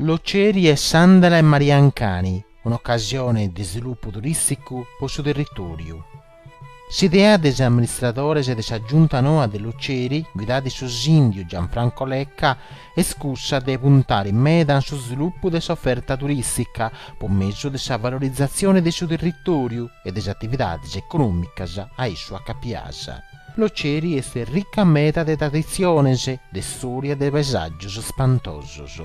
Loceri e s'àndala 'e Maria Ancani, un'ocasione de svilupu turìsticu po su territòriu. S'idea de is amministradores de sa Giunta noa de Loceri, guidada de su sìndiu Gianfranco Lecca, est cussa de puntare meda in su svilupu de s'oferta turìstica po mesu de sa valorizatzione de su territòriu e de is atividades econòmicas a issu acapias. Loceri est rica meda de traditziones, de storia e de paesàgios spantosos.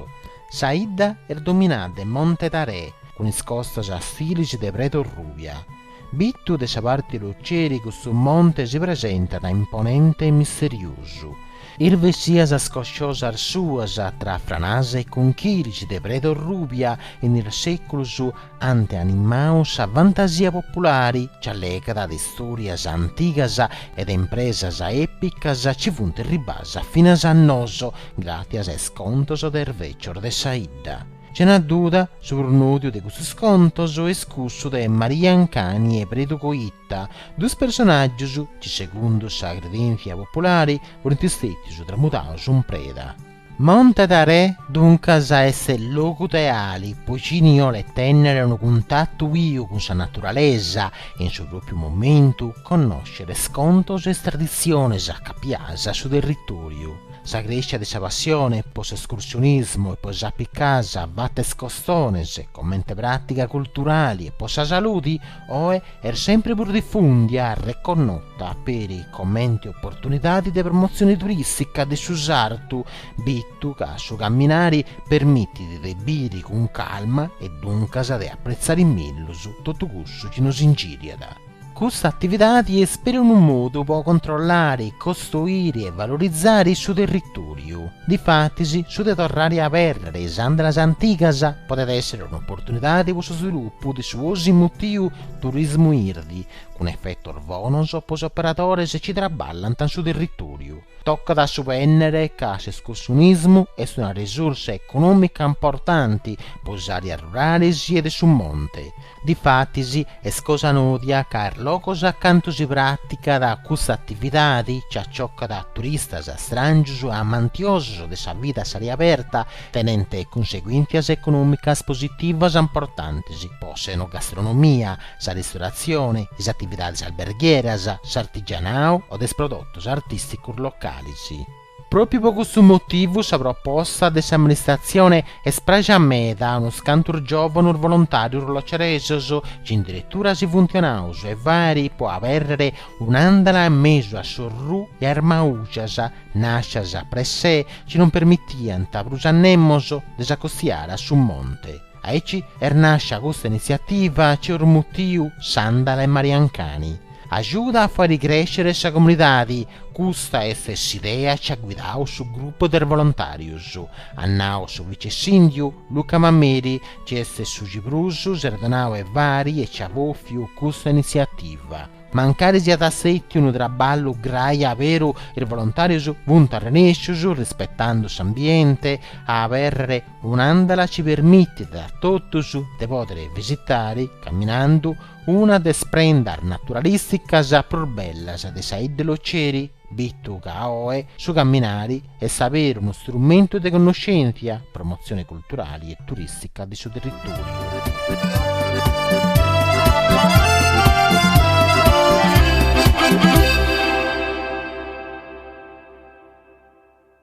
Sa 'idda est dominada de Monte Tarè, cun is costas a filis de pred'orrùbia. Bitu de sa parti 'e Loceri custu monte si presentat imponente e misteriosu. Is vesias scosciosas suas tra franas e conchilis de pred'orrùbia in is seculus ant animau sa fantasia populari, chi allegat de istòrias antigas e de impresas èpicas chi funt ribas finas a nosu gràtzias a is contos de is vècios de sa 'idda. Sena duda, su prus nòdiu de custus contos est cussu de Maria Ancani e Predu Coitta, duus personàgius chi, segundu sa credèntzia populari, funt stètius tramudaus in preda. Monte Tarè duncas est logu ideali po chini 'olet tennere unu cuntatu biu cun sa naturalesa e in su propiu momentu connoscere is contos e is traditziones acapias a su territoriu. Sa crèscia de sa passione po s'escursionismu e po is apicas fatas costones comente pràtiga culturali e po sa saludi Oe est sèmpiri prus difùndia reconnota peri comente oportunidadi de promotzioni turìstica de su sartu, bitu ca su camminari permitit de biri cun calma e duncas de apretzari mellus totu cussu chi nos ingìriat. Custa atividadi est peri unu modu po controllari, costoiri e valorizari su territòriu. Difatis, su de torrare a abèrrere is andalas antigas podet èssere un'oportunidade pro su svilupu de su 'osi mutiu turismu irdi, cun efetos bonos pro is operadores chi traballant in su territòriu. Tocat a subènnere ca s'escursionismu est una resursa econòmica importante pro is àreas rurales e de su monte, Difatis, est cosa nòdia ca is logos acantu si pràticat custa atividadi chi aciocat turistas stràngius amantiosus de sa vida a s'ària aberta, tenent cunseguìntzias econòmicas positivas importantis po s'enogastronomia, sa ristoratzioni, is atividadis alberghieras, s'artigianau o de is prodotus artìsticus localis. Pròpiu po custu motivu sa proposta de s'amministratzione est pràxia meda a unos cantos giòvanos volontàrios loceresos, ci in diretura si funt donaus e fari po abèrrere un'àndala a mesu a s'orrù e a is maujas, nàscias per sè, ci non permitiant prus a nemos de s'acostiare a su monte. Aici est nàscia custa initziativa ci eus mutiu S'àndala e Mariancani. Agiuda a fai crèscere sa comunidadi, custa est s'idea ci at guidau su grupu de volontàrius, at nau su vice-sìndiu, Luca Mameli, ci est su ci prus s'est donau e fari e ci at bòfiu custa initziativa, mancari siat istètiu unu traballu grai aberu, is volontàrius funt arrenèscius, rispetandu s'ambienti, a abèrrere Un'àndala ci permitit a totus de pòdere visitare, caminandu, una de is prendas naturalìsticas prus bellas de sa idda e Loceri, bitu ca oe su caminare est aberu unu strumentu de connoschèntzia, promotzione culturale e turìstica de su territòriu.